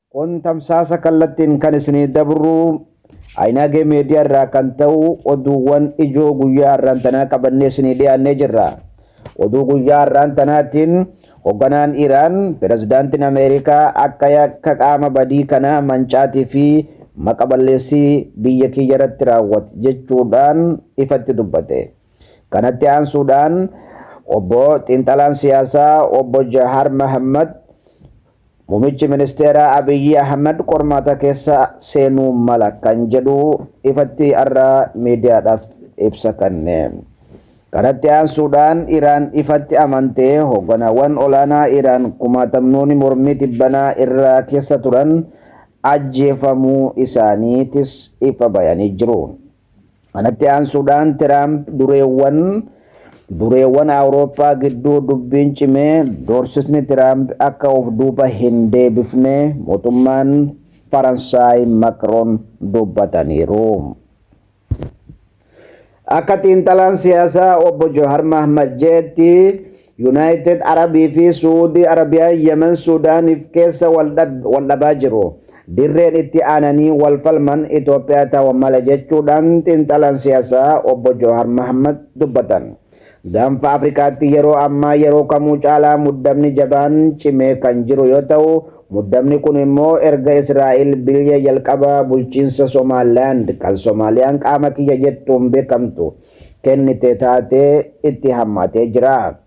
Kun tamsaasa kallattiin kan isinii dabru Ayinaagee Meediyaa irraa kan ta'u oduuwwan ijoo guyyaa har'aan tanaa qabannee isinii dhiyaannee jirra. Oduu guyyaa har'aan tanaatiin hogganaan Iraan pirezidaantiin Ameerikaa akka yakka qaama badii kanaa mancaatii fi maqa balleessii biyya kiyya irratti raawwate jechuudhaan ifatti dubbate. Kanatti aansuudhaan obbo xiinxalaan siyaasaa obbo Jahaar Mahammad Mumichi ministeeraa Abiyyi Ahmed qormaata keessa seenuu mala kan jedhu ifatti har'a miidiyaadhaaf ibsa kanne. Kanatti aansuudhaan Iraan ifatti amantee hoogganawwan olaanaa Iraan kumaatamnooni mormii tibbanaa irraa keessa turan ajjeefamuu isaaniitis ifa bayanii jiru. Kanatti aansuudhaan Tiraamp dureewwan dureewwan Awurooppaa gidduu dubbiin cimee doorsisni Tiraamp akka of duuba hin deebifne mootummaan Faransaay Makroon dubbataniiru. Akka xiinxalaan siyaasaa obbo Johar Mahmad jedhetti Yunaayitid Arabii fi Su'uudii Arabiyaan Yemen Suudaaniif keessa wal dhabaa jiru. Dirreen itti aananii wal falman Itoophiyaa ta'u mala jechuudhaan xiinxalaan siyaasaa Obbo Jawaar Mahaammad dubbatan. Gaanfa Afrikaatti yeroo ammaa yeroo kamuu caalaa muddamni jabaan cimee kan jiru yoo ta'u, muddamni kun immoo erga Israa'el bilya jalqaba bulchiinsa Somaalilaand kan Somaaliyaan qaama kiyya jettuun beekamtu kennite taatee itti hammaatee jira.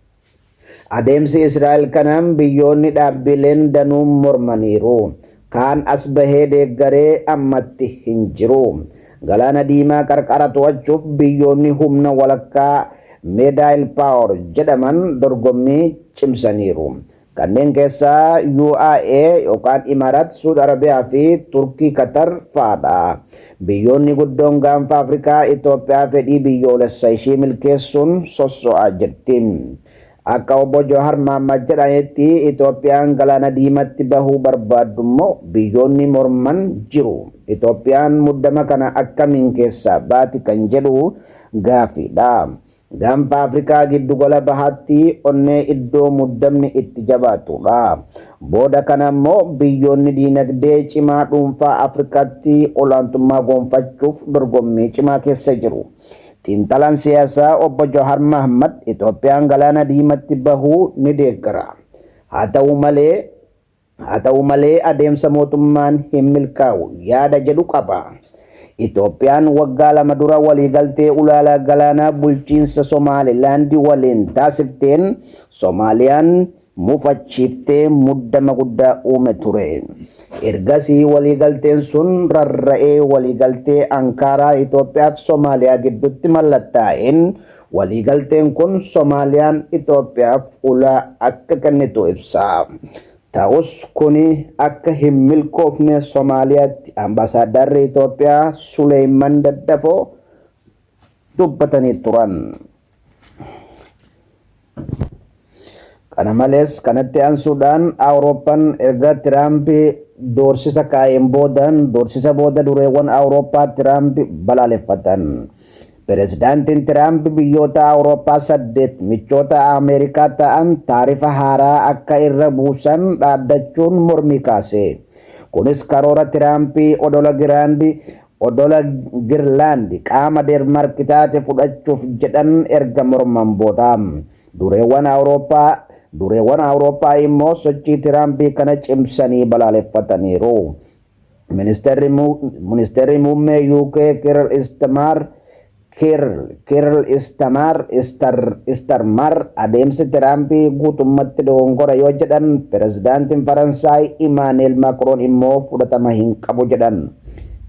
Adeemsi Israa'el kana biyyoonni dhaabbiileen danuu mormaniiru. Kaan as bahee deeggaree ammatti hin jiru. Galaana Diimaa qarqara to'achuuf biyyoonni humna walakkaa Medaayil Paawor jedhaman dorgommii cimsaniiru. Kanneen keessaa UAE yookaan Imarat, Suud Arabiyaa fi Turkii Katar fa'adha. Biyyoonni guddoon Gaanfa Afrikaa Itoophiyaa fedhii biyyoolessa ishii milkeessuun sosso'aa jirti. Akka Obbo Jawahar Mahaammad jedhanitti Itoophiyaan Galaana Diimatti bahuu barbaaddummoo biyyoonni morman jiru. Itoophiyaan muddama kana akkamiin keessaa baati kan jedhu gaafiidha. Gaanfa Afrikaa Giddugala Bahaatti onnee iddoo muddamni itti jabaatudha. Booda kana immoo biyyoonni diinagdee cimaa dhuunfaa Afrikaatti olaantummaa goonfachuuf dorgommii cimaa keessa jiru. Xiinxalaan siyaasaa Obbo Jawahar Mahaammad Itoophiyaan Galaana Diimatti bahuu ni deeggara. Haa ta'u malee Haa ta'u malee adeemsa mootummaan hin milkaa'u yaada jedhu qaba. Itoophiyaan waggaa lama dura waliigaltee ulaalaa galaanaa bulchiinsa Somaalilaandi waliin taasifteen Somaaliyaan mufachiiftee muddama guddaa uume ture. Ergasii waliigalteen sun rarra'ee waliigaltee Ankaaraa Itoophiyaa fi Somaaliyaa gidduutti mallattaa'een Waliigalteen kun Somaaliyaan Itoophiyaaf ulaa akka kennitu ibsa. Ta'us kuni akka hin milkoofne Somaaliyaatti Ambaasaaddarri Itoophiyaa Suleeyman Daddafoo dubbatanii turan. Kana malees kanatti aansuudhaan Awurooppaan erga Tiraamp doorsisa kaa'een booda doorsisa booda dureewwan Awurooppaa Tiraamp balaaleffatan. Pirezidaantiin Tiraamp biyyoota Awurooppaa saddeet michoota Ameerikaa ta'an taarifa haaraa akka irra buusan dhaaddachuun mormii kaase. Kunis karoora Tiraamp odola Giraand odola Girlaand qaama Deenmaark taate fudhachuuf jedhan erga morman booda. Dureewwan Awurooppaa Dureewwan Awurooppaa immoo sochii Tiraamp kana cimsanii balaaleffataniiru. Ministeerri Muu Ministeerri Muummee UK Kirl Istmaar Kirl Kirl Istamaar Istar Istarmar adeemsi Tiraamp guutummatti dogongora yoo jedhan, Pirezidaantiin Faransaay Imaanu'eel Maakroon immoo fudhatama hin qabu jedhan.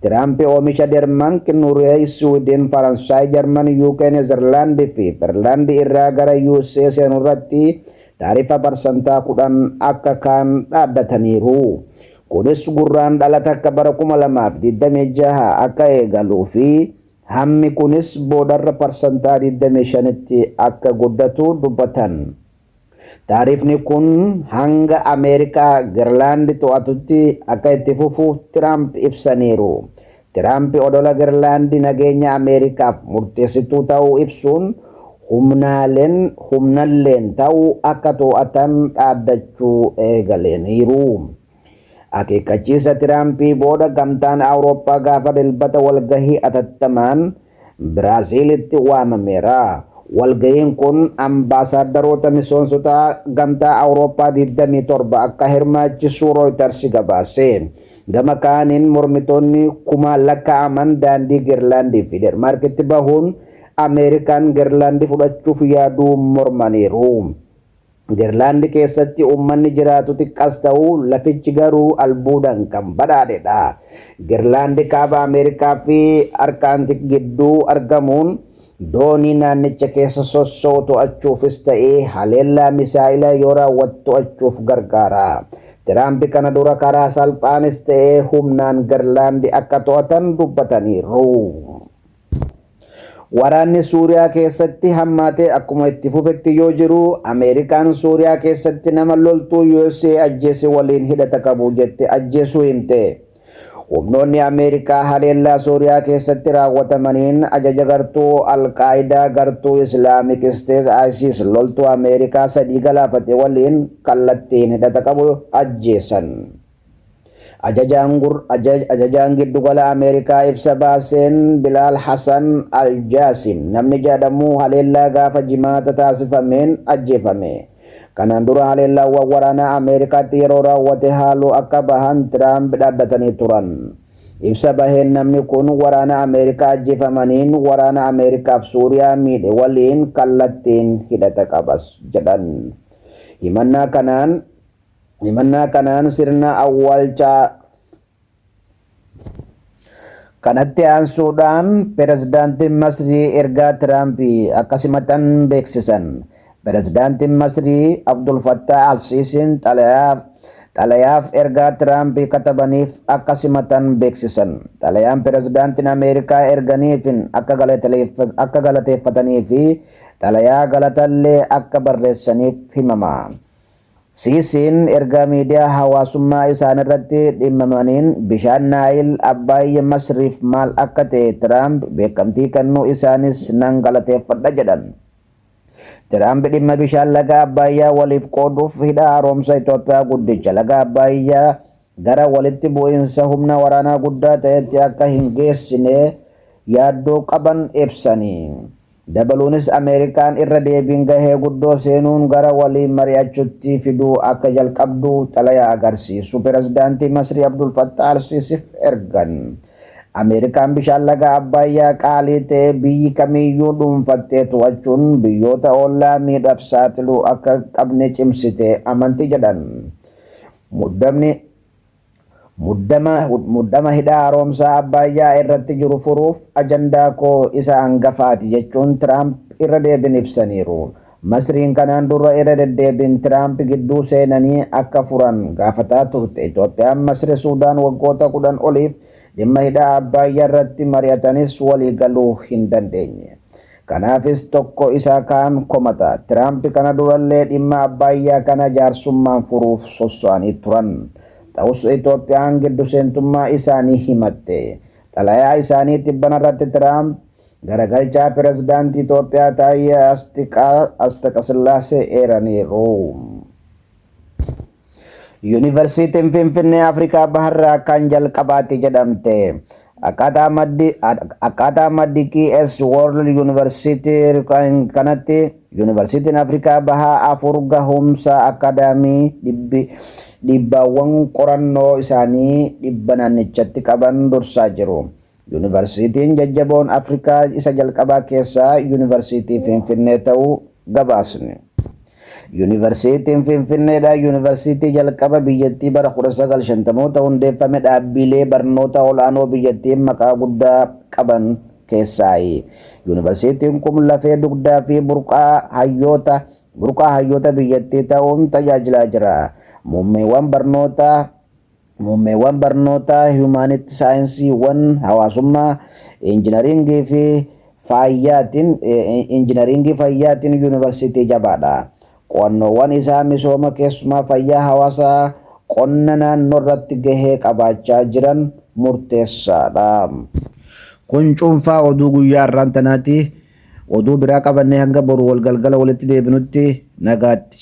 Tiraamp oomisha Dermank, Nureey, Siwiidin, Faransaay, Jarman, UK, Nezerlaand fi Ferlaand irraa gara usa seenu irratti taarifa parsantaa 10 akka kaan dhaaddataniiru. Kunis Gurraandhala 1 bara 2026 akka eegaluu fi hammi kunis boodarra parsantaa 25tti akka guddatu dubbatan. Taarifni kun hanga Ameerikaa Girlaandi to'atutti akka itti fufu Tiraamp ibsaniiru. Tiraamp odola Girlaandi nageenya Ameerikaaf murteessituu ta'uu ibsuun humnaaleen humnalleen ta'u akka to'atan dhaaddachuu eegaleeniiru. Akeekkachiisa Tiraampii booda Gamtaan Awurooppaa gaafa Dilbata walgahii atattamaan Biraaziilitti waamameera. Walgahiin kun ambaasaaddaroota misoonsota Gamtaa Awurooppaa 27 akka hirmaachisu Rooyitarsi gabaase. Gama kaaniin mormitoonni kumaan lakkaa'aman daandii Gerlaandii fi Denmaarkitti bahuun Ameerikaan Gerlaandi fudhachuuf yaaduu mormaniiru. Gerlaand keessatti uummanni jiraatu xiqqas ta'u lafichi garuu albuudan kan badhaadhe dha. Gerlaand kaaba Ameerikaa fi Arkaantik gidduu argamuun doonii naannicha keessa sosso'u to'achuufis ta'ee haleellaa misaa'ilaa yoo raawwatu to'achuuf gargaara. Tiraamp kana dura karaa salphaanis ta'ee humnaan Gerlaand akka to'atan dubbataniiru. Waraanni Suuriyaa keessatti hammaatee akkuma itti fufetti yoo jiru, Ameerikaan Suuriyaa keessatti nama loltuu usa ajjeese waliin hidhata qabu jette ajjeesuu himte. Humnoonni Ameerikaa haleellaa Suuriyaa keessatti raawwatamaniin ajaja gartuu Al-Qaayidaa gartuu Islaamik Isteet ISIS loltuu Ameerikaa sadii galaafate waliin kallattiin hidhata qabu ajjeesan. Ajajaan gur Ajajaan Giddugala Ameerikaa ibsa baaseen Bilaal Hasan Al Jaasim namni jadhamu haleellaa gaafa Jimaata taasifameen ajjeefame. Kanaan dura haleellaawwan waraanaa Ameerikaatti yeroo raawwate haaluu akka bahan Tiraamp dhaaddatanii turan. Ibsa baheen namni kun waraana Ameerikaa ajjeefamaniin waraana Ameerikaaf Suuriyaa miidhe waliin kallattiin hidhata qabas jedhan. Himannaa kanaan. Himannaa kanaan sirna awwaalchaa kanatti aansuudhaan pirezidaantiin Masrii ergaa Tiraampi akka simatan beeksisan. Pirezidaantiin Masrii Abdul Fattah al-Siisiin xalayaaf ergaa Tiraampi katabaniif akka simatan beeksisan. Xalayaan pirezidaantiin Ameerikaa erganiifin akka galateeffatanii fi xalayaa galatallee akka barreessaniif himama. Siisiin ergaa miidiyaa hawaasummaa isaanirratti dhimmamaniin bishaan Naayil Abbaay Masriif maal akka ta'e Tiraamp beekamtii kennuu isaaniis nan galateeffadha jedhan. Tiraamp dhimma bishaan laga Abbaayyaa waliif qooduuf hidha haaromsa Itoophiyaa guddicha laga Abbaayyaa gara walitti bu'iinsa humna waraanaa guddaa ta'etti akka hin geessine yaaddoo qaban ibsanii. Dabaluunis Ameerikaan irra deebiin gahee guddoo seenuun gara waliin mari'achutti fiduu akka jalqabdu xalayaa agarsiisu Pirezidaantii Masrii Abdul Fattah al-Siisif ergan. Ameerikaan bishaan laga Abbaayyaa qaalii ta'e biyyi kamiiyyuu dhuunfattee to'achuun biyyoota ollaa miidhaf saaxiluu akka hin qabne cimsite amanti jedhan. Muddamni. Muddama muddama hidha haaromsaa Abbaayyaa irratti jiru furuuf ajandaa koo isa angafaati jechuun Tiraamp irra deebin ibsaniiru. Masriin kanaan dura irra deddeebiin Tiraamp gidduu seenanii akka furan gaafataa turte. Itoophiyaan Masri Suudaan waggoota 10 oliif dhimma hidha Abbaayyaa irratti mari'atanis waliigaluu hin dandeenye. Kanaafis tokko isa kaan komata. Tiraamp kana durallee dhimma Abbaayyaa kana jaarsummaan furuuf sosso'anii turan. Ta'us Itoophiyaan gidduseentummaa isaanii himatte. Xalayaa isaanii tibbanarratti Tiraamp garagalchaa Pirezidaantii Itoophiyaa Taayyee Asxaqasillaasee eeraniiru. Yuunivarsiitiin Finfinnee Afrikaa Baharraa kan jalqabaatti jedhamte. Akkaataa maddi akkaataa maddi QS World University kan- kanatti Yuunivarsiitiin Afrikaa Bahaa afur gahumsa akaadaamii dhibbi dhiibbaawwan qorannoo isaanii dhibba naannichatti qaban dursaa jiru. Yuunivarsiitiin jajjaboon Afrikaa isa jalqabaa keessaa Yuunivarsiitii Finfinnee ta'uu gabaasni. Yuunivarsiitiin Finfinneedha Yuunivarsiitii jalqaba biyyattii bara 1950moota hundeeffame dhaabbiilee barnoota ol'aanoo biyyattiin maqaa guddaa qaban keessaayi. Yuunivarsiitiin kun lafee dugdaa fi burqaa hayyoota burqaa hayyoota biyyattii ta'uun tajaajilaa jira. Muummeewwan barnootaa Muummeewwan barnootaa Hiyumaanitti Saayinsiiwwan Hawaasummaa, Injinariingii fi Fayyaatiin Injinariingii Fayyaatiin Yuunivarsiitii jabaadha. Qo'annoowwan isaa misooma keessumaa fayyaa hawaasaa qonna naannoorratti gahee qabaachaa jiran murteessaadha. Kun cuunfaa oduu guyyaa har'aan tanaati. Oduu biraa qabannee hanga boru wal galgala walitti deebinutti nagaatti.